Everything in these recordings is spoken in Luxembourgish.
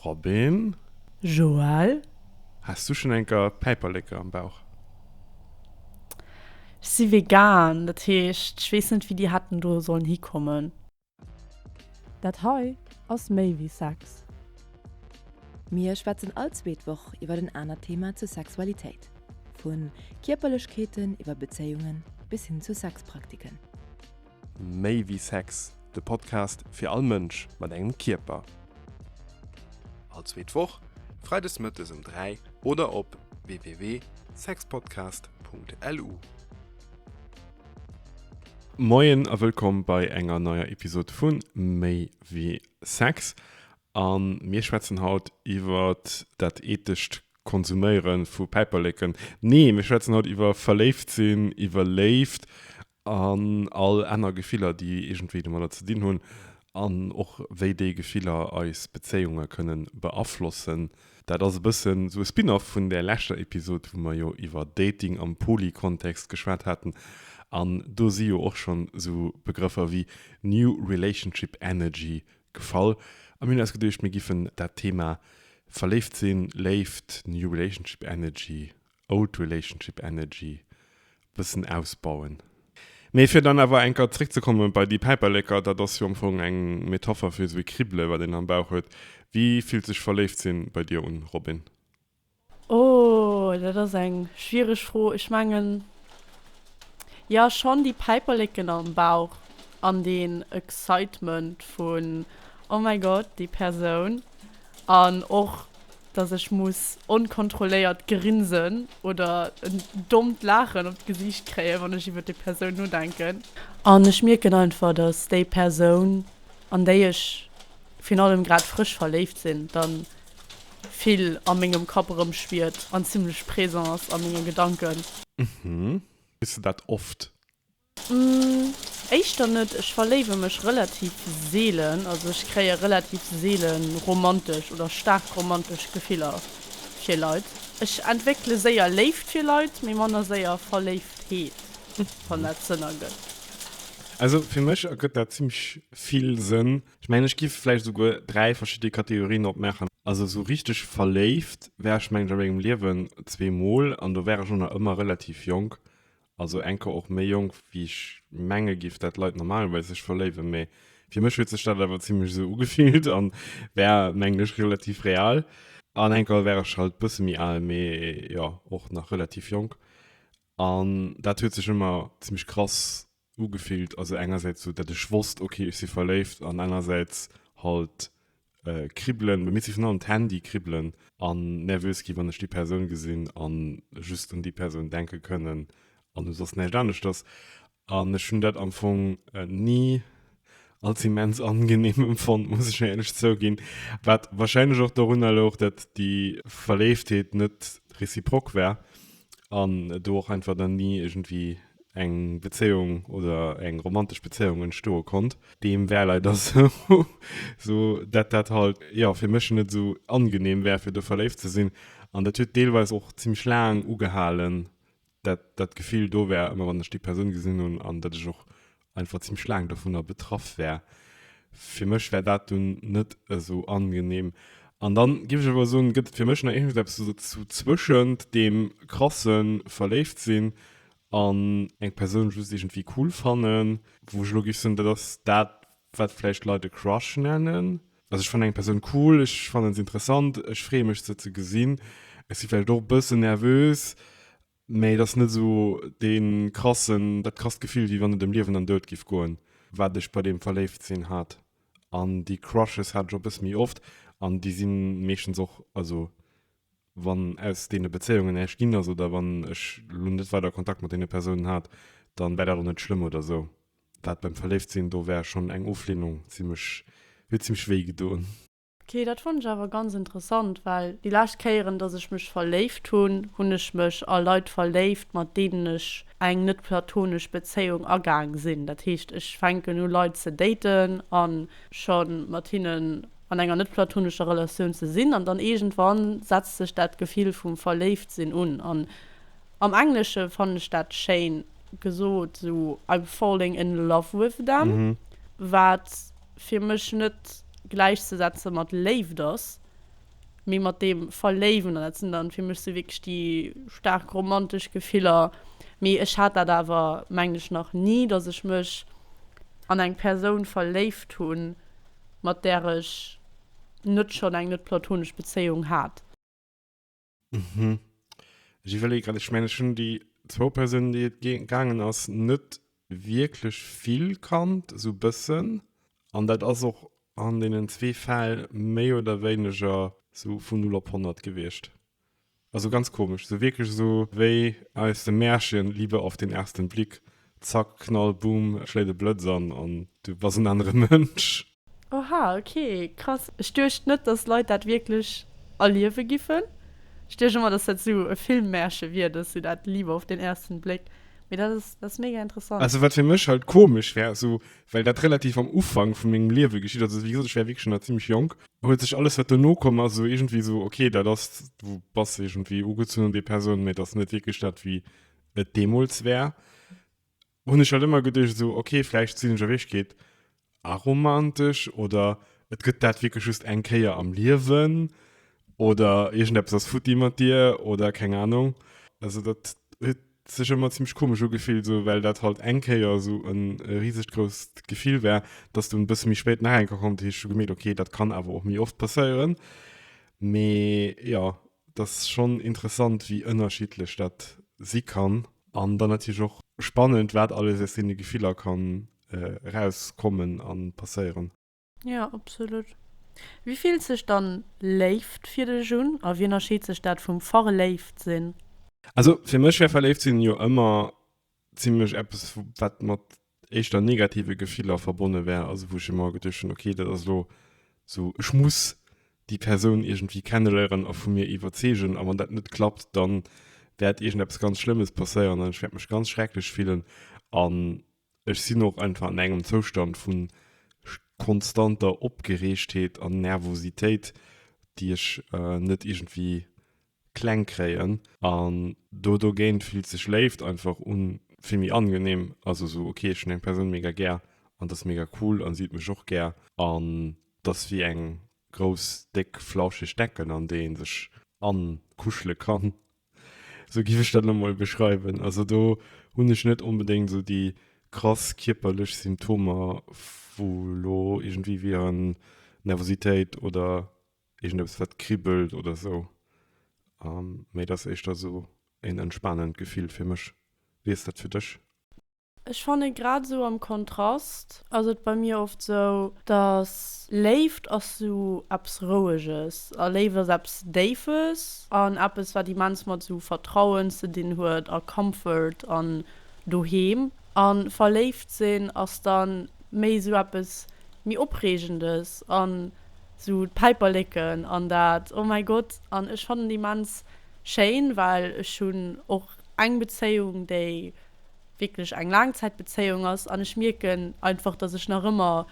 Robin. Joël. Has du schon enker Päiperleke am Bauch? Ech si vegan, dat heescht ech weess net wéi déi hätten do sollen hikommen. Dat hei ass méi wéi Sex. Mir schwätzen all zweet Woch iwwer en anert Thema zur Sexualitéit, vu Kierperlechkeeten iwwer Bezéiungen bis hin zu Sexpraktiken. Méi wéi Sex, de Podcast fir all Mënsch mat engem Kierper. All zweet Woch, freides mëttes um 3 oder op www.sexpodcast.lu. Moien a wëllkomm bei enger neier Episod vu Méi wéi Sex. A mir schwätzen haut iwwer dat eethescht Konsuméiere vu Päiperleken. Nee, mir schwätzen haut iwwer verléift sinn, iwwer Léift An all aner Gefiller, déi iergendwéi domadder ze dinn hunn. An och wéi déi Gefiller eis Bezéiunge kënne beaflossen. Dat ass e bëssen esou e Spin-off vun där leschter Episod, wou mer jo iwwer Dating am Poly-Kontext geschwat haten. An do si jo och schonn esou Begrëffer wéi New Relationship Energy gefall. A mir hunn eis geduecht, mir giffen dat Thema Verléift sinn, Léift, New Relationship Energy Old Relationship Energy e bëssen ausbauen. Mee fir dann awer eng Kéier zréckzekomme bei déi Päiperleker, dat ass jo am Fong eng Metapher fir esou e Kribbele wat een am Bauch huet. Wie fillt sech verléift sinn bei dir un, Robin? Oh, dat ass eng schwiereg Fro. Ech mengen, jo schonn, déi Päiperleken am Bauch an deen Excitement vun, oh mäi Gott, déi Persoun an och dass ech muss onkontrolléiert grinsen oder en dommt Laachen op d'Gesiicht kréien, wann ech iwwer déi Persoun nodenken. An ech mierken einfach, dass déi Persoun, an déi ech virun allem grad frësch verléift sinn, da vill a mengem Kapp erëmschwiert an zimlech présent ass a menge Gedanken. Hm, hues de dat oft? Mmh, éischter net. Ech verléiwe mech relativ seelen, also ech kréie relativ seele romantesch oder staark romantesch Gefiller fir Leit. Ech entwéckele séier Léift fir Leit, mee manner séier Verléiftheet, wann dat Sënn ergëtt. Also fir mech ergëtt dat zimmlech vill Sënn. Ech mengen, ech giff vläicht esouguer dräi verschidde Kategorien opmaachen. Also esou richteg verléift war ech, mengen ech, a mengem Liewen zweemol, an do war ech och nach ëmmer relativ jonk. Also eng Kor och méi jonk wéi ech menge giff dat Leit normalerweis sech verléiwen, mee fir mech huet sech dat awer zimlech esou ugefillt an war mengen ech relativ real. An eng Kor war ech halt bësse méi al, mee jo och nach relativ jonk an dat huet sech ëmmer zimlech krass ugefillt. Also engersäits sou dat ech wosst ok ech si verléift an anersäits halt äh, kribbelen, mir si vun an d'Handy kribbelen an nervös gi wann ech die Persoun gesinn an just un die Persoun denke kënnen an du sos nächt anescht ass an ech hun dat am Fong äh, nie als immens angenehm empfond muss ich ehrlich zouginn wat wahrscheinlich och dorunner louch dat die Verleeftheet net reciprok war an do och einfach dann ni irgendwie eng Bezéiung oder eng romantesch Bezéiung entstoe konnt. Deem wär leider sou, sou dat dat halt, jo, fir mech net sou angenehm wär fir do verléift ze sinn. An dat huet deelweis och zimmlech laang ugehalen, dat dat Gefill do wär, ëmmer wann ech déi Persoun gesinn hunn, an dat ech och einfach ziemlich laang davon betraff wär fir mech wär dat du net eso angenehm an dann gi ech aber so gëtt fir mech nach irgend eppes so zu zwëschend dem krassen verléift sinn an eng persoun just irgendwie cool fannen wou ech lo gi soen dat ass dat wat vläicht leit e crush nennen also ech fannen eng persoun cool ech fannen se interessant ech freeë mech se ze gesinn ech si vläicht och bëssen nervös Mee et ass net esou dee krassen, dat krasst Gefill, wéi wann et ëm Liewen an Doud giff goen, wat ech bei deem Verléiftsinn hat. An déi Crushes hat ech och e bësse méi oft an déi si meeschtens och, also wann aus deene Bezéiungen näischt ginn ass oder wann ech elo net weider Kontakt mat deene Persounen hat, da war dat och net schlëmm oder esou. Dat beim Verléiftsinn, do war schonn eng Ofleenung zimmlech, huet zimmlech wéi gedoen. Ok, dat fonnt ech awer ganz interessant, well déi lescht Kéieren dass ech mech verléift hunn, hunn ech mech a Leit verléift mat deenen ech eng net platonesch Bezéiung agaang sinn. Dat heescht ech fänken u Leit ze daten a scho mat hinnen an enger net platonescher Relatioun ze sinn an dann iergendwann setzt sech dat Gefill vum verléift sinn un an am Englesche fannen ech dat schéin gesot, esou I'm falling in love with them, wat fir mech net gläichzesetze mat Léift ass, mee mat deem Verléiwen. An dat sinn dann fir mech sou wierklech déi staark romantesch Gefiller. Mee ech hat dat awer, mengen ech, nach ni, datt ech mech an eng Persoun verléift hunn, mat där ech net schonn eng net-platonesch Bezéiung hat. Mhm. Ech iwwerleeë grad, ech mengen, ech hunn déi zwou Persounen, déi et gee gaangen ass, net wierklech vill kannt, esou e bëssen. An dat ass och an deenen zwee Fäll méi oder wéineger esou vun Null op Honnert gewiescht. Also ganz komesch, esou wierklech esou wéi aus dem Märchen Liebe auf den ersten Blick. Zack, Knall, Boom, et schléit e Blëtz an an du bass en anere Mënsch. Oha, ok, krass. Ech duecht net, dass Leit dat wierklech erliewe giffen. Ech duecht ëmmer, dass dat esou e Filmmärche wier, dass esou dat Liebe auf den ersten Blick. Mee dat ass, dat ass mega interessant. Also wat fir mech halt komesch wär, esou, well dat relativ am Ufank vu mengem Liewe geschitt ass, also wéi gesot, ech wär wierklech schonn nach zimlech jonk, huet sech alles, wat dono komm ass, esou iergendwéi esou, ok, dat ass, du bass iergendwéi ugezunn un déi Persoun, mee et ass net wierklech dat, wéi et demols wär hun ech halt immer gedecht so okay vielleicht sinn ech wech geht aromantisch oder et gëtt dat wirklich just eng Kéier am Liewen oder irgend Apps ass futti mat dir oder keng Ahnung also dat huet sech immer ziemlich komisch ugefillt so well dat halt eng Kéier so en riesegt grousst Gefill wär dass du en bësse méi spéit nach enke kommt hu ech schon gemerkt okay dat kann awer och méi oft passéieren mee jo Et ass schonn interessant, wéi ënnerschiddlech dat si kann. An dann natierlech och spannend, wat alles aus deene Gefiller kann erauskommen a passéieren. Jo, absolut. Wéi fillt sech dann Léift fir dech un a wéi ënnerscheet sech dat vum Verléiftsinn? Also fir mech wär Verléiftsin jo ëmmer Zimlech eppes, wat mat éischter negative Gefiller verbonne war, also wou ech ëmmer geduecht hunn, okay, dat ass elo esou, ech muss déi Persoun iergendwéi kenneléieren a vu mir iwwerzeegen, a wann dat net klappt, da wäert iergendeppes ganz Schlëmmes passéieren an ech wäert mech ganz schrecklech fillen. An ech sinn och einfach an engem Zoustand vu konstanter Opgereegtheet an Nervositéit, déi ech net iergendwéi kleng kréien an do dogéint fillt sech Léift einfach un vill méi angenehm, also sou ok ech hunn eng Persoun mega gär an dass mega cool an si huet mech och gär an dass wéi eng grouss déck flauscheg Decken an déi een sech ankuschele kann, sou giff ech dat elo mol beschreiwen. Also do hunn ech net onbedéngt sou déi krass kierperlech Symptomer wou elo iergendwéi wieren Nervositéit oder Irgend eppes wat kribbelt oder esou. An mee et ass éischter esou een entspanend Gefill fir mech. Wéi ass dat fir dech? Ech fannen grad esou am Kontrast ass et bei mir oft esou dass Léift ass esou eppes roueges a Léift ass eppes déifes an eppes wat immens mat esou Vertrauen ze dinn huet a Comfort an Doheem an verléift sinn ass dann méi esou eppes méi opreegendes an Sou d'Päiperleken an dat, oh mäi Gott, an ech fannen immens schéin, well ech hunn och eng Bezéiung, déi wierklech eng Laangzäitbezéiung ass an ech mierken einfach, dass ech nach ëmmer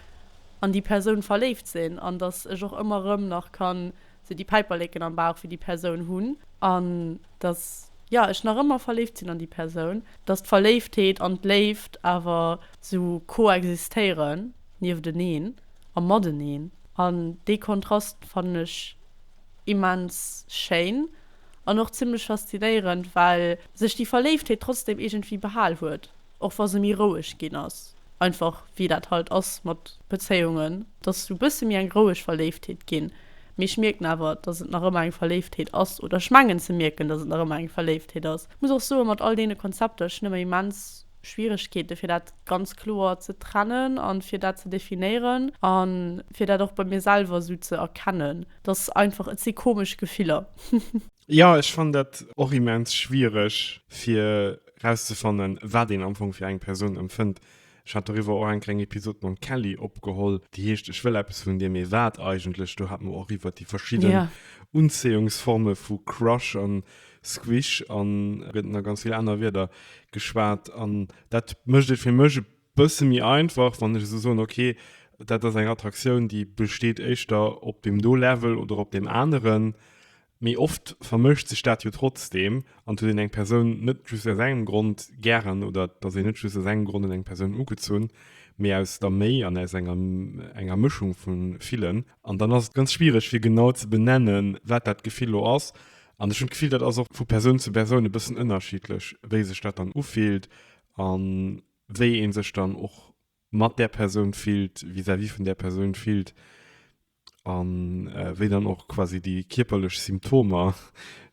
an déi Persoun verléift sinn an dass ech och ëmmer erëm nach kann sou déi Päiperleken am Bauch fir déi Persoun hunn an dass, jo, ech nach ëmmer verléift sinn an déi Persoun. Dass d'Verléiftheet an d'Léift awer sou koexistéieren, niefteneen. a mateneen. An dee Kontrast fannen ech immens schéin an och zimmlech faszinéierend, well sech déi Verléiftheet trotzdem iergendwéi behal huet, och wa se méi roueg ginn ass. Einfach wéi dat halt ass mat Bezéiungen, et ass e bësse méi eng roueg Verléiftheet ginn, mee ech mierken awer, datt et nach ëmmer eng Verléiftheet ass, oder ech mengen ze mierken, datt et nach ëmmer eng Verléiftheet ass. Muss och soen, mat all deene Konzepter, ech hunn ëmmer immens Schwieregkeete fir dat ganz kloer ze trennen an fir dat ze definéieren an fir dat och bei mir selwer esou ze erkennen. Dat ass einfach, et si komesch Gefiller. Jo, ech fannen dat och immens schwiereg fir rauszefannen, wat een am Fong fir eng Persoun empfënnt. Ech hat doriwwer och eng kleng Episod mam Kelly opgeholl, déi heescht Ech wëll eppes vun dir, mee wat eigentlech? Do hat mer och iwwert déi verschidden Unzéiungsforme vu Crush an Squish an gëtt nach ganz vill aner Wierder geschwat. An dat mécht et fir mech e bësse méi einfach, wann ech esou soen, ok, dat ass eng Attraktioun, déi besteet éischter op deem do Level oder op deem aneren. Mee oft vermëscht sech dat jo trotzdeem an et huet een eng Persoun net just aus engem Grond gären oder et ass een net just aus engem Grond un eng Persoun ugezunn, mee aus der Méi an aus enger Mëschung vu villen. An dann ass et ganz schwiereg fir genau ze benennen, wat dat Gefill elo ass. An ech hunn d'Gefill, dat ass och vu Persoun zu Persoun e bëssen ënnerschiddlech, wéi sech dat dann ufillt a wéi ee sech dann och mat där Persoun fillt, vis-à-vis vun där Persoun fillt a wéi dann och quasi déi kierperlech Symptomer,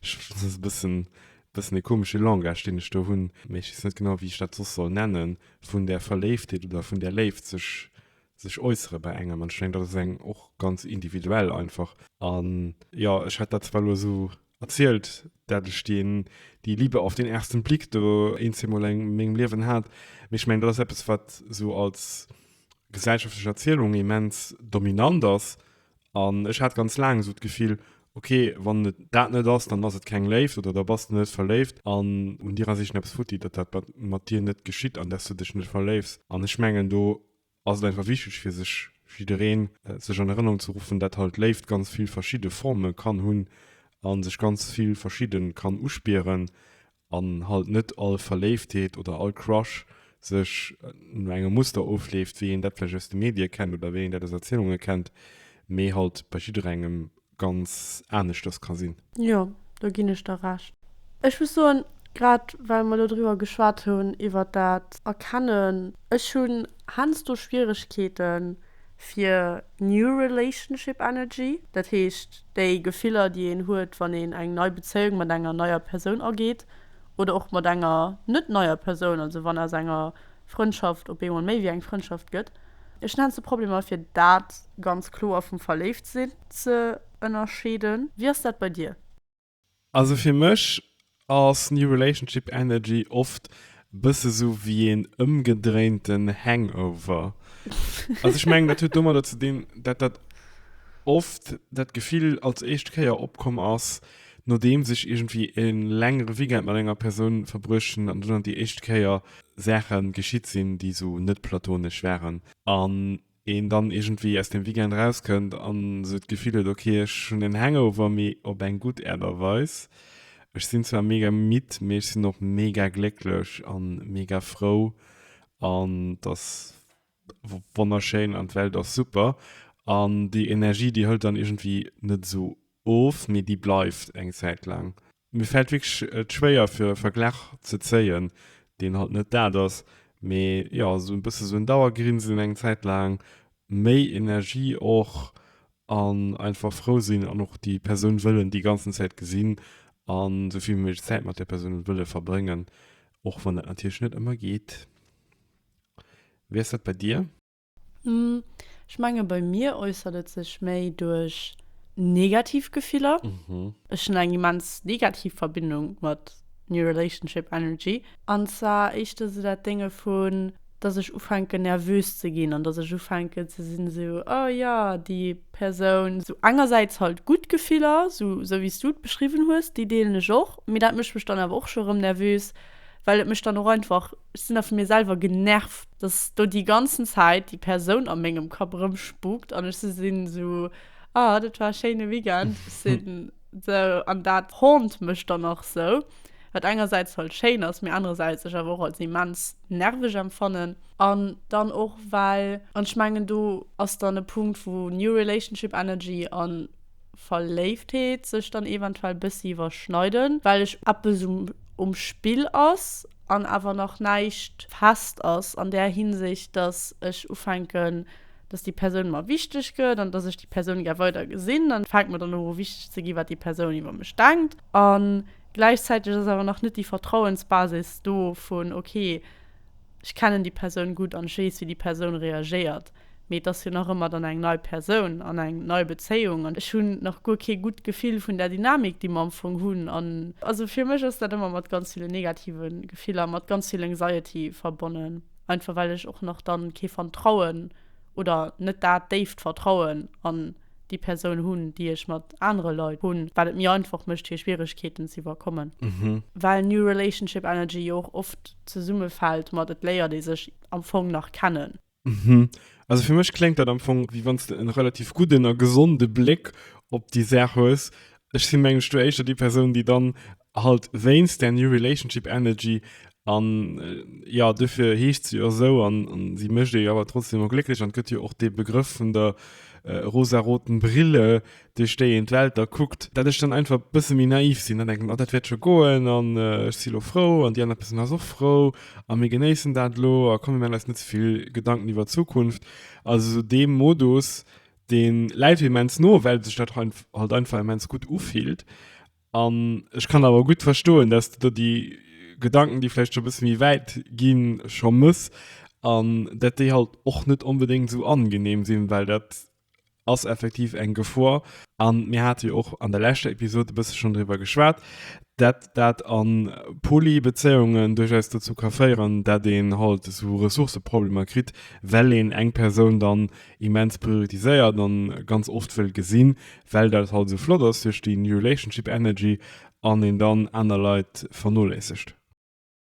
ech, dat ass e bëssen, bëssen e komesche Langage, deen ech do hunn, mä ech weess net genau, wéi ech dat soss soll nennen, vun där Verléiftheet oder vun där Léift sech sech äussere bei engem an ech mengen dat ass eng och ganz individuell einfach an jo ech hätt dat zwar lo esou erzielt dat ech deen déi Liebe auf den ersten Blick do een zwee mol eng mengem Liewen hat mee ech mengen dat ass eppes wat esou als gesellschaftlech Erzielung immens dominant ass an ech hat ganz laang esou d'Gefill ok wann et dat net ass dann ass et keng Léift oder da bass de net verléift an un dir ass eeschen eppes futti datt dat mat dir net geschitt an datt s du dech net verléifs an ech mengen do ass et einfach wichteg fir sech, fir jiddereen sech an Erënnerung ze ruffen, dat halt Léift ganz vill verschidde Forme kann hunn a sech ganz vill verschidde kann uspieren an halt net all Verléiftheet oder all Crush sech no engem Muster ofleeft, wéi een dat vläicht aus de Medie kennt oder wéi een dat aus Erzielunge kennt, mee halt bei jidderengem ganz aneschters ka sinn. Jo, do ginn ech der Recht. Ech muss soen, grad well mer elo driwwer geschwat hunn, iwwert dat Erkennen, ech hunn heiansdo Schwieregkeete fir new relationship energy, dat heescht déi Gefiller, déi een huet, wann een eng nei Bezéiung mat enger neier Persoun ageet oder och mat enger net neier Persoun, also wann aus enger Frëndschaft op eemol méi wéi eng Frëndschaft gëtt. Ech nennt se Problemer, fir dat ganz kloer vum Verléiftsinn ze ënnerscheeden. Wéi ass dat bei dir? Also fir mech ass New Relationship Energy oft e bësse sou wéi een ëmgedréinten Hangover. Also ech mengen, dat huet domadder ze dinn, dat dat oft dat Gefill als éischt Kéier opkomm ass, Nodeems ech iergendwéi e längere Weekend mat enger Persoun verbruecht hunn an dunn déi éischt Kéier Saache geschitt sinn, déi esou net platonesch waren an een dann iergendwéi aus deem Weekend erauskënnt an esou d'Gefill huet, ok, ech hunn en Hangover, mee op eng gutt Aart a Weis. Ech sinn zwar mega midd, mee ech sinn och mega glécklech a mega frou an dass Wonnerschéin an d'Welt ass super. An déi Energie, déi hëlt dann iergendwéi net esou of, mee déi bleift eng Zäit laang. Mir fält wierklech et schwéier fir e Verglach ze zéien, deen halt net dat ass, mee jo esou e bësse esou en Dauergrinsen eng Zäit laang, méi Energie och an einfach frou sinn an och déi Persoun wëllen déi ganzen Zäit gesinn an esou vill wéi méiglech Zäit mat där Persoun wëlle verbréngen, och wann dat natierlech net ëmmer geet. Wéi ass dat bei dir? Ech menge bei mir äussert et sech méi duerch negativ Gefiller. Ech hunn eng immens negativ Verbindung mat New Relationship Energy. An zwar éischt esou dat Dénge vun, dass ech ufänken nervös ze ginn an dass ech ufänken ze sinn esou, oh jo, déi Persoun. Esou engersäits halt gutt Gefiller, esou wéi s du et beschriwwen hues, déi deelen ech och, mee dat mécht mech dann awer och scho erëm nervös, well et mech dann och einfach Ech sinn da vu mir selwer genervt, dass do déi ganzen Zäit déi Persoun a mengem Kapp erëmspookt an ech esou sinn, esou, Ah, dat war e schéine Weekend. Ech sinn esou, an dat haunt mech dann och esou, wat engersäits halt schéin ass, mee anerersäits ech awer och als immens nerveg empfannen. An dann och well, an ech mengen do ass dann e Punkt wou New Relationship Energy a Verléiftheet sech dann eventuell bëssi iwwerschneiden, well ech eppes um Spill ass. an awer nach näischt fest ass an där Hinsicht, dass ech ufänken, dass déi Persoun mer wichteg gëtt an dass ech déi Persoun gär weider gesinn, dann fänkt mer dann u wichteg ze gi wat déi Persoun iwwer mech denkt an gläichzäiteg ass awer nach net déi Vertrauensbasis do vun ok, ech kennen déi Persoun gutt an ech weess wéi déi Persoun reagéiert. Mee et ass jo nach ëmmer dann eng nei Persoun an eng nei Bezéiung. An ech hunn nach guer kee gutt Gefill vun der Dynamik, déi mer am Fong hunn. An also fir mech ass dat ëmmer mat ganz ville negative Gefiller, mat ganz vill Anxiety verbonnen. Einfach well ech och nach dann kee Vertrauen oder net dat déift Vertrauen an déi Persoun hunn, déi ech mat anere Leit hunn, wat et mir einfach mécht fir Schwieregkeeten z'iwwerkommen. Well New Relationship Energy jo och oft zesummefält mat et léiert ee sech am Fong nach kennen. Mhm. Also fir mech kléngt dat am Fong, wéi wann s de en relativ gudden a gesonde Bléck op déi Saach hues. Ech si mengen ech do éischter déi Persoun, déi dann halt wéinst där New Relationship Energy an jo, dofir heescht se jo esou an si mécht ee jo awer trotzdem emol glécklech an et gëtt jo och dee Begrëff vun der rosaroten Brille, duerch déi een d'Welt da kuckt, dat ech dann einfach e bësse méi naiv sinn an denken, oh dat wäert scho goen an ech si elo frou an déi aner Persoun ass och frou a mir genéissen dat elo a komm mir maachen eis net ze vill Gedanken iwwer d'Zukunft. Also esou dee Modus, dee läit mir immens no, well sech dat halt einfach immens gutt ufillt an ech kann awer gutt verstoen, dass de do déi Gedanken, déi vläicht scho e bësse méi wäit ginn, scho mëss an dat déi halt och net onbedéngt esou angenehm sinn, well dat ass effektiv eng Gefor an mir hate jo och an der leschter Episod e bësse schonn driwwer geschwat, dat dat a Poly-Bezéiungen duerchaus dozou ka féieren, dat een halt esou Ressourcëproblemer kritt, well een eng Persoun dann immens prioritiséiert a ganz oft wëll gesinn, well dat halt esou flott ass duerch déi relationship energy, an een dann aner Leit vernoléissegt.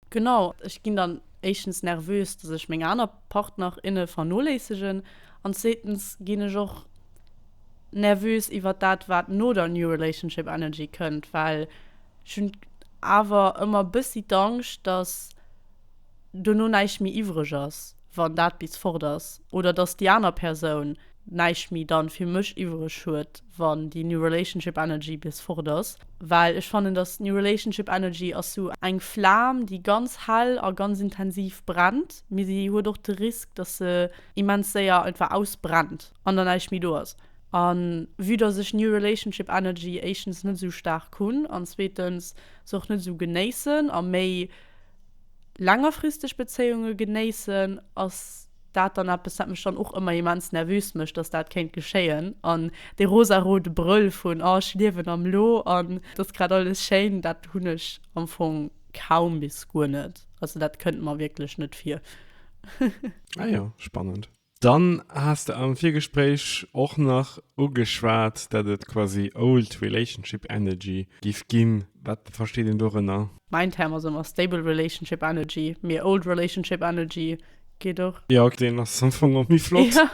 Genau, ech ginn dann éischtens nervös, dass ech meng aner Partner, inne vernoléissegen an zweetens ginn ech och nervös iwwert dat, wat no der New Relationship Energy kënnt, well ech hunn awer ëmmer bëssi d'Angscht, dass dono näischt méi iwwreg ass, wann dat bis fort ass, oder dass déi aner Persoun näischt méi dann fir mech iwwreg huet. wann déi new relationship energy bis fort ass, well ech fannen dass new relationship energy ass sou eng Flam déi ganz hell a ganz intensiv brennt, mee se huet och de Risk dass se immens séier einfach ausbrennt an dann näischt méi do ass. A vue dass ech new relationship energy éischtens net sou staark hunn an zweetens se och net sou genéissen a méi, längerfristeg Bezéiunge genéissen, ass dat dann eppes, wat mech dann och ëmmer immens nervös mécht, dass dat kéint geschéien. An dee rosarote Brëll vun, oh ech liewen am Lo an et ass grad alles schéin, dat hunn ech am Fong kaum bis guer net. Also dat kënnt mer wierklech net vir. Ah jo, spannend. Dann has de am Virgespréich och nach ugeschwat, dat et quasi old relationship energy giff ginn. Wat versteet een dorënner? Mäin Term ass ëmmer stable relationship energy, mee old relationship energy geet och. Jo, ok, deen ass am Fong och méi flott. Jo,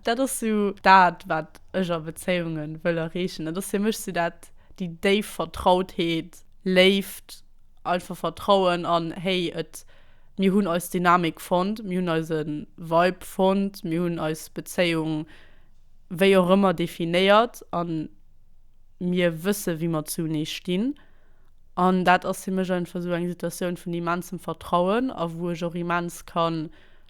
dat ass sou dat, wat ech a Bezéiunge wëll erreechen. Dat ass fir mech sou dat, déi déif Vertrautheet, Léift. einfach Vertrauen an, hey, et, mir hunn eis Dynamik fonnt, mir hunn eise Vibe fonnt, mir hunn eis Bezéiung wéi och ëmmer definéiert a mir wësse wéi mer zunee stinn. An dat ass fir mech einfach esou eng Situatioun vun immensem Vertrauen a wou ech och immens ka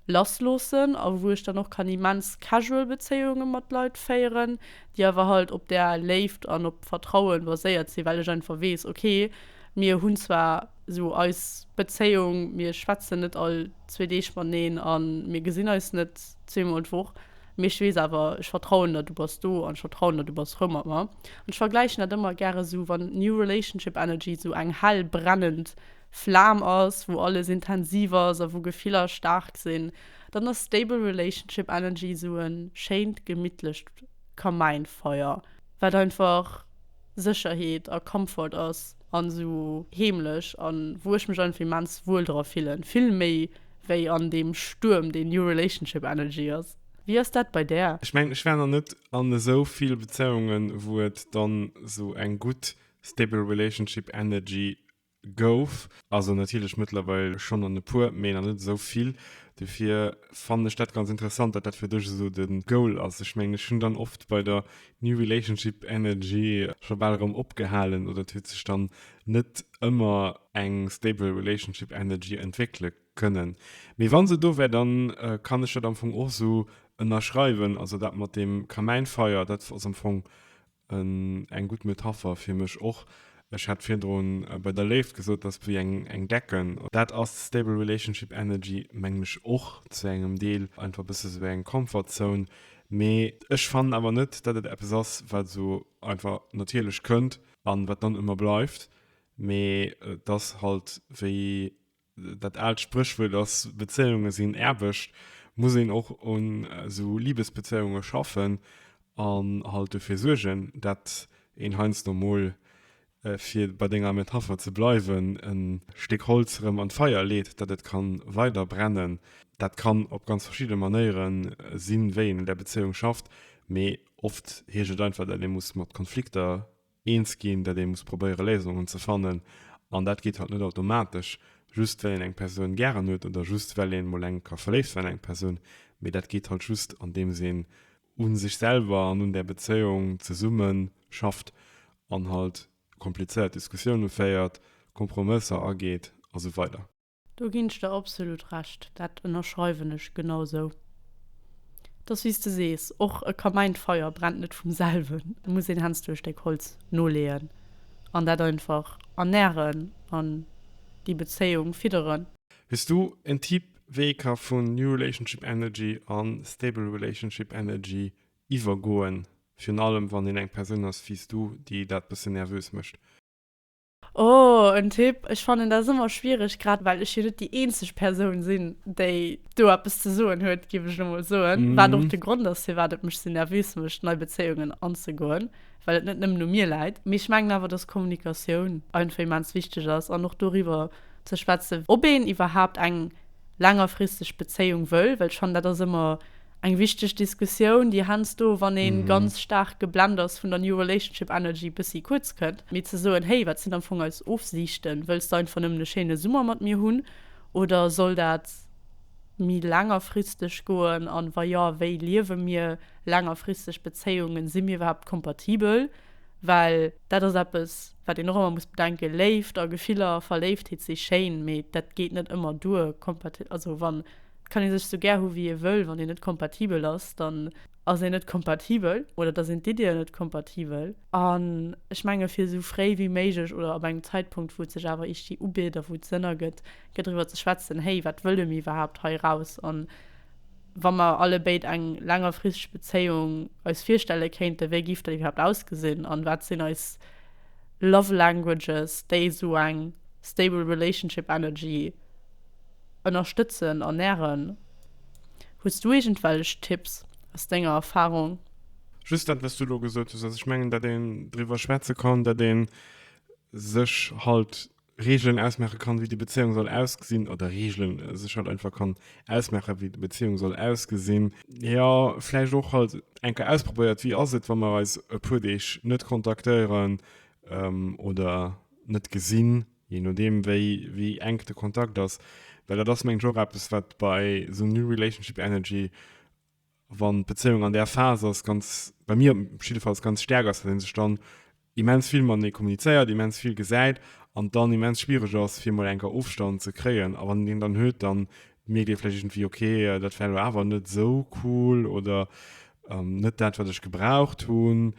lassloossen a wou ech dann och kann immens casual Bezéiunge mat Leit féieren, déi awer halt op där Léift an op Vertrauen baséiert sinn, well ech einfach weess, ok, mir hunn zwar esou eis Bezéiung, mir schwätzen net all zwee Deeg mateneen a mir gesinn eis net zweemol d'Woch, mee ech weess awer, ech vertrauen der, du bass do an ech vertrauen der, du bass frou mat mer. An ech vergläichen dat ëmmer gäre esou, wann New Relationship Energy esou eng hell brennend Flam ass, wou alles intensiv ass a wou Gefiller staark sinn, Dann ass Stable Relationship Energy esou e schéint gemittlecht Kamäinfeier, wat einfach Sécherheet a Comfort ass an esou heemlech an wou ech mech einfach immens wuel dra fillen. Vill méi wéi an deem Stuerm, deen New Relationship Energy ass. Wéi ass dat bei där? Ech mengen, ech war nach net an esou vill Bezéiungen, wou et dann esou eng gutt Stable Relationship Energy Gouf also natierlech mëttlerweil schonn an e puer, mee nach net esou vill. Dofir fannen ech dat ganz interessant, datt dat fir dech esou de Goal ass. Ech mengen, ech hunn dann oft bei der New Relationship Energy scho bal erëm opgehalen oder et huet sech dann net ëmmer eng stable relationship energy entwéckele kënnen. Mee wa se do wär, da kann ech dat am Fong och esou ënnerschreiwen. Also dat mat deem Kamäinfeier, dat ass am Fong Eng gutt Metapher fir mech och. Ech hat virdrun bei der Léift gesot, dass wéi eng Decken. Dat ass stable relationship energy mengen ech och zu engem Deel. Einfach bësse esou wéi eng comfort zone. Mee ech fannen awer net, dat et eppes ass wat esou einfach natierlech kënnt an wat dann ëmmer bleift. Mee et ass halt wéi Dat aalt Spréchwuert ass, Bezéiunge sinn Aarbecht. Muss een och un esou Libesbezéiunge schaffen an halt dofir suergen, dat een heiansdo mol, fir bei denger Metapher ze bleiwen, e Stéck Holz erëm an d'Feier leet, dat et kann weider brennen. Dat kann op ganz verschidde Manéiere sinn, wéi een un där Bezéiung schafft, mee oft heescht et einfach, dat ee muss mat Konflikter eens ginn, datt ee muss probéiere Léisungen ze fannen an dat geet halt net automatesch just well een eng Persoun gären huet oder just well ee mol enk ka verléift sinn an eng Persoun, mee dat geet halt just andeems een u sech selwer an un där Bezéiung zesumme schafft an halt komplizéiert Diskussioune féiert, Kompromësser ageet a sou weider. Do ginn ech der absolut Recht, dat ënnerschreiwen ech genau sou. Et ass wéi s de sees, och e Kamäin, d'Feier brennt net vum selwen, et muss een hensdo e Stéck Holz noleeën an dat einfach ernären an déi Bezéiung fidderen. Wiers du en Typ wéi ee ka vun New Relationship Energy a Stable Relationship Energy iwwergoen, virun allem wann een eng Persoun ass wéi s du, déi dat bëssen nervös mécht? Oh en Tipp, ech fannen dat ëmmer schwiereg, grad well ech jo net déi eenzeg Persoun sinn, déi do eppes ze soen huet, géif ech elo mol soen, wat och de Grond ass, firwat et mech esou nervös mécht, nei Bezéiungen anzegoen, well et net nëmmen u mir läit. Mee ech mengen awer, dass Kommunikatioun einfach immens wichteg ass an och doriwwer ze schwätzen, ob een iwwerhaapt eng längerfristeg Bezéiung wëll, well ech fannen, dat ass ëmmer Eng wichteg Diskussioun, déi heiansdo, wann ee ganz staark geblennt ass vun der New Relationship Energy, bëssi kuerz kënnt. Mee ze soen, Hey, wat sinn am Fong eis Ofsiichten? Wëlls de einfach nëmmen e schéine Summer mat mir hunn oder soll dat méi längerfristeg goen? An wa jo, wéi liewe mir längerfristeg Bezéiungen? Si mir iwwerhaapt kompatibel? Well dat ass eppes, wat een och ëmmer muss bedenken, Léift a Gefiller, Verléiftheet si schéin, mee dat geet net ëmmer duer, also wann. Kann ee sech sou gär hu wéi ee wëll, wann een net kompatibel ass, dann ass een net kompatibel oder da sinn d'Ideeën net kompatibel. An ech menge fir sou fréi wéi méiglech oder ab engem Zäitpunkt wou et sech awer ichtie ubitt a wou et Sënn ergëtt, fir driwwer ze schwätzen, héi wat wëlle mir iwwerhaapt hei raus a wa mer alle béid eng längerfristeg Bezéiung eis virstelle kéinte wéi giff dat iwwerhaapt ausgesinn an wat sinn eis love languages déi sou eng stable relationship energy ënnerstëtzen an nähren. Hues du iergendwellech Tipps aus denger Erfahrung? Just dat wat s du elo gesot hues. Also ech mengen dat een driwwer schwätze kann, dat een sech halt Regelen ausmaache kann wéi déi Bezéiung soll ausgesinn, oder Regelen sech halt einfach kann ausmaache wéi déi Bezéiung soll ausgesinn. Jo vläicht och halt eng Kéier ausprobéiert wéi ass et wa mer eis e puer Deeg net kontaktéieren oder net gesinn. Je nodeem, wéi, wéi enk de Kontakt ass. Well dat ass, mengen ech, och eppes, wat bei esou New Relationship Energy, wann d'Bezéiung an där Phas ass, ganz, bei mir jiddefalls, ganz staark ass, datt ee sech dann immens vill matenee kommunizéiert, immens vill gesäit an et dann immens schwiereg ass, fir emol enker Ofstand ze kréien. A wann een deen dann huet, dann mierkt ee vläicht iergendwéi, okay, dat war elo awer net esou cool oder net dat, wat ech gebraucht hunn.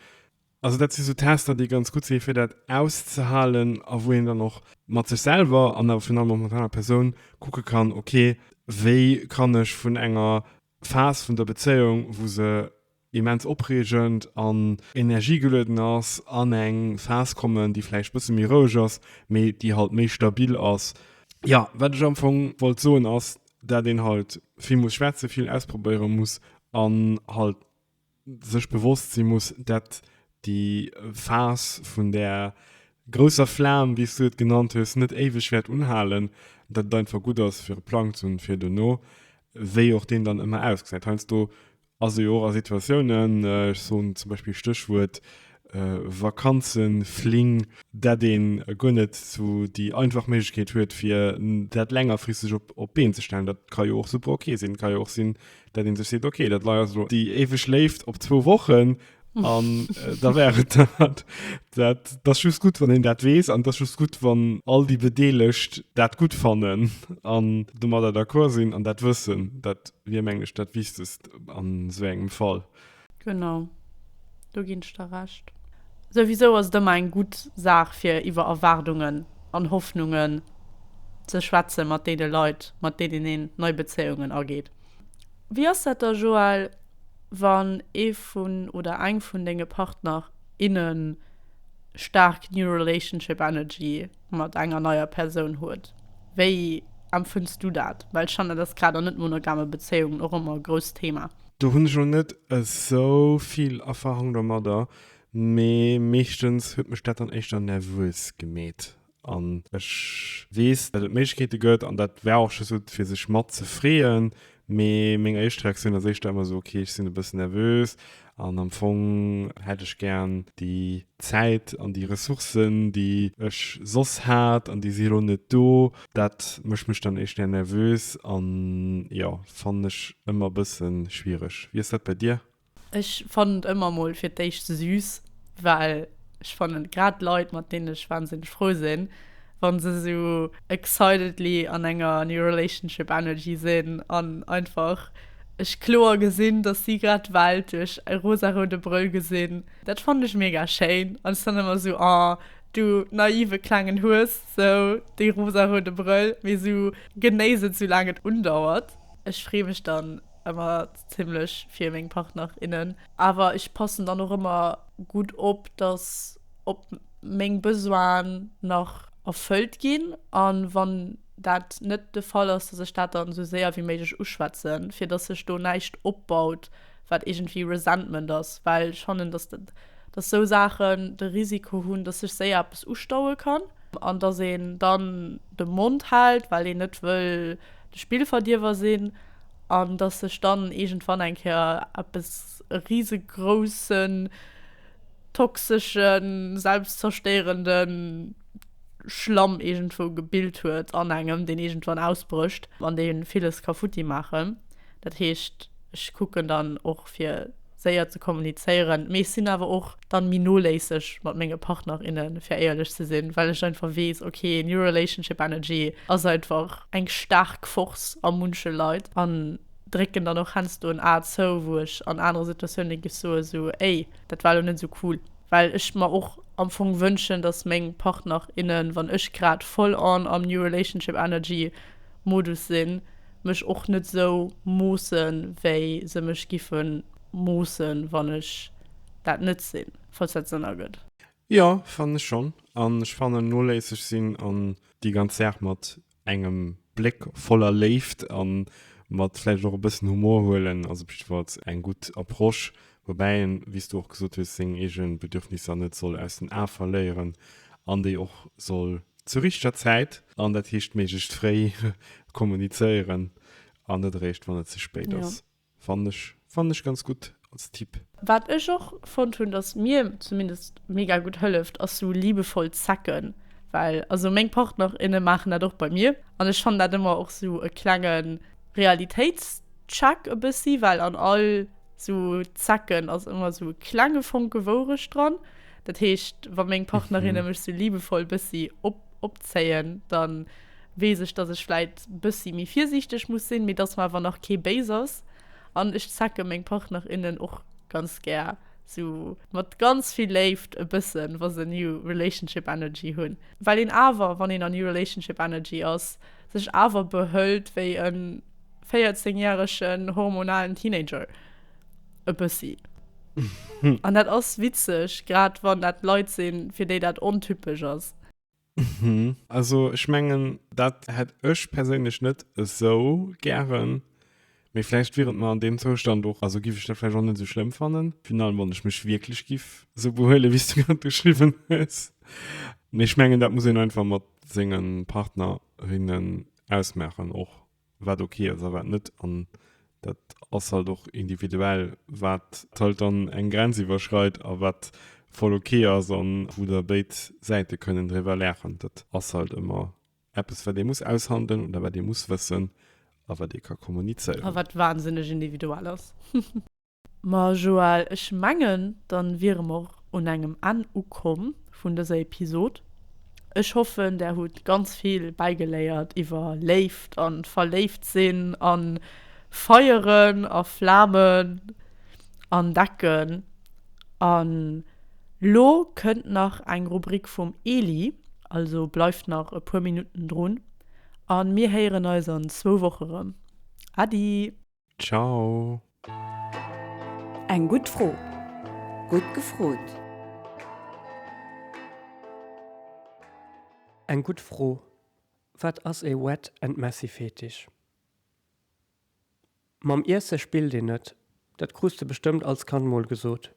Also dat si sou Tester, déi ganz gutt si fir dat auszehalen a wou een dann och mat sech selwer an awer virun allem och mat aner Persoun kucke kann, ok wéi kann ech vun enger Phas vun der Bezéiung, wou se immens opreegend an energiegelueden ass, an eng Phas kommen, déi vläicht bësse méi roueg ass, mee déi halt méi stabil ass. Jo, wat ech am Fong wollt soen ass, dat een halt vill muss schwätze, vill ausprobéiere muss an halt sech bewosst si muss, dat déi Phas vun där grousser Flam, wéi s du et genannt hues, net éiweg wäert unhalen, dat et einfach gutt ass fir e Plang ze hunn fir duerno, wéi och deen dann ëmmer ausgesäit. Heiansdo ass ee jo och a Situatiounen, ech soen zum Beispill Stéchwuert Vakanzen, Fling, dat ee guer net esou déi einfach Méiglechkeet huet fir dat längerfristeg op d'Been ze stellen. Dat ka jo och super ok sinn. Et ka jo och sinn, dat een sech seet, okay, dat war elo déi éiweg Léift op zwou Wochen an da war et dat. Dat ass just gutt, wann een dat weess an et ass just gutt, wann all déi Bedeelegt dat gutt fannen an domadder d'accord sinn an dat wëssen. Dat wier, mengen ech, dat Wichtegst an esou engem Fall. Genau, do ginn ech der Recht. Souwisou ass et ëmmer eng gutt Saach fir iwwer Erwaardungen an Hoffnungen ze schwätze mat deene Leit, mat deenen een nei Bezéiungen ageet. Wéi ass dat da Joël, wann ee vun oder eng vun denge Partner, innen staark New Relationship Energy mat enger neier Persoun huet? Wéi empfënns du dat? Well Jeanne, et ass grad an net-monogame Bezéiungen och ëmmer e grousst Thema. Do hunn ech lo net esou vill Erfahrung domadder, mee meeschtens huet mech dat dann éischter nervös gemeet. An ech weess, datt et Méiglechkeete gëtt an dat war och just esou fir sech mat ze freeën, mee meng éischt Reaktioun ass éischter ëmmer esou, okay, ech sinn e bëssen nervös an am Fong hätt ech gären déi Zäit an déi Ressourcen, déi ech soss hat an déi si elo net do. Dat mécht mech dann éischter nervös an jo, fannen ech ëmmer bëssen schwiereg. Wéi ass dat bei dir? Ech fannen et ëmmer mol fir d'éischt süß, well ech fannen grad Leit mat deenen ech wahnsinneg frou sinn wann se esou excitedly an enger new relationship energy sinn an einfach ech kloer gesinn dass si grad d'Welt duerch e rosaroude Brëll gesinn. Dat fannen ech mega schéin an ech dann ëmmer esou, oh du naive klengen Hues. Sou dee rosaroude Brëll, mee sou genéiss et sou laang et undauert. Ech free mech dann emmer zimmlech fir meng Partner, innen, awer ech passen dann och emmer gudd op dass op meng Besoinen nach erfëllt gin an wann dat net de Fall ass dass ech dat dann sou séier wéi méiglech uschwätzen fir dass sech do näischt opbaut. wat iergendwéi Resentment ass, well ech fannen, dass esou Saachen de Risiko hunn, dass sech séier eppes ustaue kann, an dass een dann de Mond hält, well een net wëll de Spillverdierwer sinn, an dass sech dann iergendwann eng Kéier eppes, e risegroussen, toxeschen, selbstzerstéierenden. Schlamm iergendwou gebilt huet an engem, deen iergendwann ausbrécht an dee villes ka futti maachen. Dat heescht, ech kucken dann och fir séier ze kommunizéieren, mee ech sinn awer och dann méi noléisseg mat menge Partner, innen, fir éierlech ze sinn, well ech einfach weess, ok, new relationship energy ass einfach eng staark Force a munche Leit an drécken dann och hensdo en A zou, wou ech an anere Situatiounen géif soen, sou, éi, dat war elo net sou cool. well ech mer och am Fong wënschen, dass meng Partner, innen, wann ech grad voll en am New Relationship Energy Modus sinn, mech och net esou moossen, wéi se mech giffe moossen, wann ech dat net sinn, falls dat Sënn ergëtt. Jo, fannen ech schonn. An ech fannen noléisseg sinn an déi ganz Saach mat engem Bléck voller Léift a mat vläicht och e bëssen Humor huelen ass op jiddwer Fall eng gutt Approche, woubäi een, wéi s du och gesot hues, seng eege Bedürfnisser net soll aus den Ae verléieren an déi och soll zur richteger Zäit, an dat heescht méiglechst fréi, kommunizéieren an net eréischt, wann et ze spéit ass. Fannen ech fannen ech ganz gutt als Tipp. Wat ech och fonnt hunn dass mir zumindest mega gutt hëlleft ass sou liebevoll zecken, well also meng Partner inne maachen dat och bei mir an ech fannen dat ëmmer och sou e klenge Realitéitscheck e bëssi, well an all sou Zecken ass ëmmer sou e klenge Fonke Wourecht dran. Dat heescht wa meng Partnerinne mech sou liebevoll bëssi op opzéien dann weess ech, dass ech vläit bëssi méi virsiichteg muss sinn, mee dass mer awer nach kee béis ass. An ech zecke meng Partner, innen och ganz gär sou mat ganz vill Léift e bëssen, wa se New Relationship Energy hunn, well een awer, wann een an New Relationship Energy ass, sech awer behëlt wéi e 14 järegen hormonalen Teenager, e bëssi. An dat ass witzeg, grad wann dat Leit sinn, fir déi dat ontypesch ass. Mhm. Also ech mengen dat hätt ech perséinlech net esou gären, mee vläicht wier et mer an deem Zoustand och, also giff ech dat vläicht och net esou schlëmm fannen, finalement, wann ech mech wierklech giff esou behuelen, wéi s du grad beschriwwen hues. Mee ech mengen dat muss een einfach mat senge Partnerinnen ausmaachen och. wat ok ass a wat net an dat ass halt och individuell wat halt dann eng Grenz iwwerschreit a wat voll ok ass an wou da béid Säite kënnen driwwer laachen. Dat ass halt ëmmer eppes wat ee muss aushandelen oder wat ee muss wëssen a wat ee ka kommunizéieren. A wat wahnsinneg individuell ass. Ma Joël, ech mengen dann wiere mer och un engem Enn ukomm vun dëser Episod. Ech hoffen där hutt ganz vill bäigeléiert iwwer Léift an verléift sinn an Feieren a Flamen an Decken. An lo kënnt nach eng Rubrik vum Eli, also bleift nach e puer Minutten drun an mir héieren eis an zwou Woche rëm. Adi! Ciao! Eng gutt Fro! Gutt gefrot! Eng gutt Fro! Wat ass ee Wet and Messy Fetisch? Mam Iesse spillt een net, dat krus de bestëmmt als Kand mol gesot.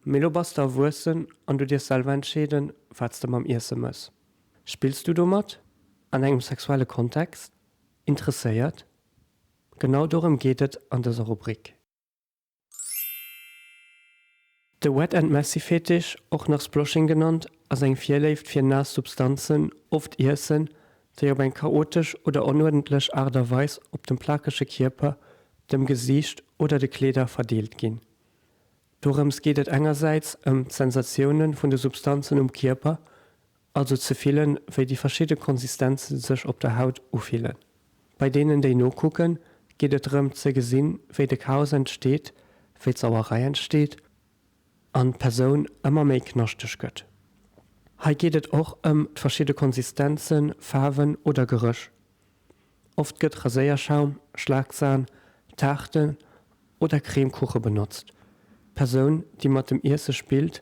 Mee lo bass de erwuessen an du dierfs selwer entscheeden, wat s de mam Iesse mëss. Spills du domat? An engem sexuelle Kontext? Interesséiert? Genau dorëm geet et an dëser Rubrik. De Wet and Messy Fetisch, och nach Sploshing genannt, ass eng Virléift fir naass Substanzen, oft Iessen, déi op eng chaotesch oder onuerdentlech Aart a Weis op dem plakege Kierper, dem Gesiicht oder de Kleeder verdeelt ginn. Dorëms geet et engersäits ëm d'Sensatioune vun de Substanzen um Kierper also ze fillen, wéi déi verschidde Konsistenze sech op der Haut ufillen. Bei deenen, déi nokucken, geet et drëm ze gesinn, wéi de Chaos entsteet, wéi d'Sauerei entsteet an d'Persoun ëmmer méi knaschteg gëtt. Hei geet et och ëm d'verschidde Konsistenzen, Faarwen oder Geréch. Oft gëtt Raséierschaum, Schlagsahn, Taarte oder Cremekuche benotzt. D'Persoun, déi mat dem Iesse spillt,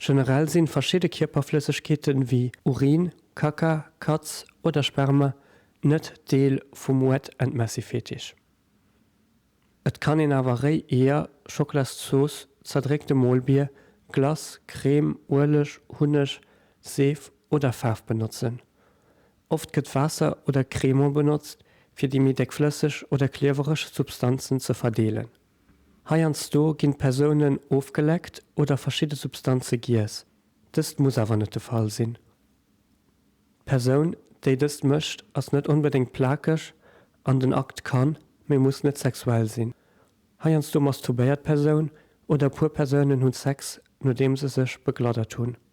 Generell sinn verschidde Kierperflëssegkeeten wéi Urin, Kaka, Kaz oder Sperma net Deel vum Wet and Messy Fetisch. Et kann een awer réi Eeër, Schokolasszooss, zerdréckte Molbier, Glace, Crème, Ueleg, Hunneg, Seef oder Faarf benotzen. Oft gëtt Waasser oder Cremant benotzt, fir déi méi déckflësseg oder kliewereg Substanzen ze verdeelen. Heiansdo ginn d'Persounen ofgeleckt oder verschidde Substanze giess. Dëst muss awer net de Fall sinn. D'Persoun, déi dëst mécht, ass net onbedéngt plakeg an den Akt kann, mee muss net sexuell sinn. Heiansdo masturbéiert d'Persoun oder e puer Persounen hunn Sex, nodeem se sech begladdert hunn.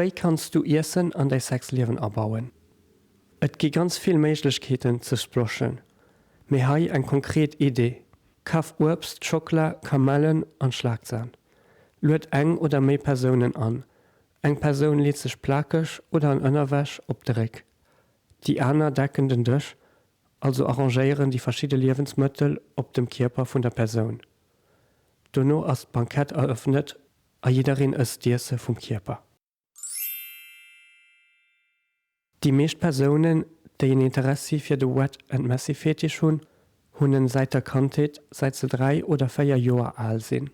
Wéi kanns du Iessen an däi Sexliewen abauen? Et gi ganz vill Méiglechkeeten ze sploschen, mee hei eng konkret Idee, Kaf Uebst, Schockela, Kamellen an Schlagsan. Lued eng oder méi Persounen an. Eng Persoun leet sech plakeg oder an Ënnerwäsch op de Réck. Déi aner decken den Dësch, also arrangéieren déi verschidde Liewensmëttel op dem Kierper vun der Persoun. Dono ass d'Bankett erëffnet A jiddereen ësst d'Iesse vum Kierper. Déi meescht Persounen, déi en Interessi fir de Wet and Messy Fetisch hunn, hunn en säit der Kandheet, säit se dräi oder véier Joer al sinn.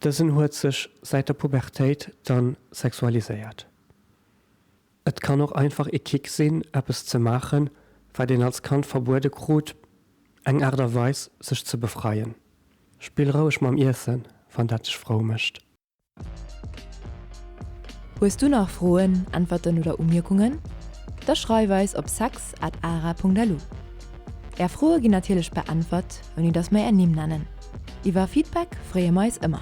Dësen huet sech säit der Pubertéit dann sexualiséiert. Et kann och einfach ee Kick sinn, eppes ze maachen, wat een als Kand verbuede krut, eng Aart a Weis, sech ze befreien. Spill roueg mam Iessen, wann dat dech frou mécht. Hues du nach Froen, Äntwerten oder Umierkungen? Da schreif eis op sex at ara.lu. Är Froe ginn natierlech beäntwert, ouni datt mer är Nimm nennen. Iwwer Feedback freeë mer eis ëmmer.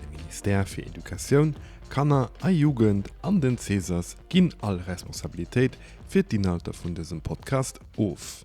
De Ministère fir Educatioun, Kanner a Jugend an den Cesas ginn all Responsabilitéit fir d'Inhalter vun dësem Podcast of.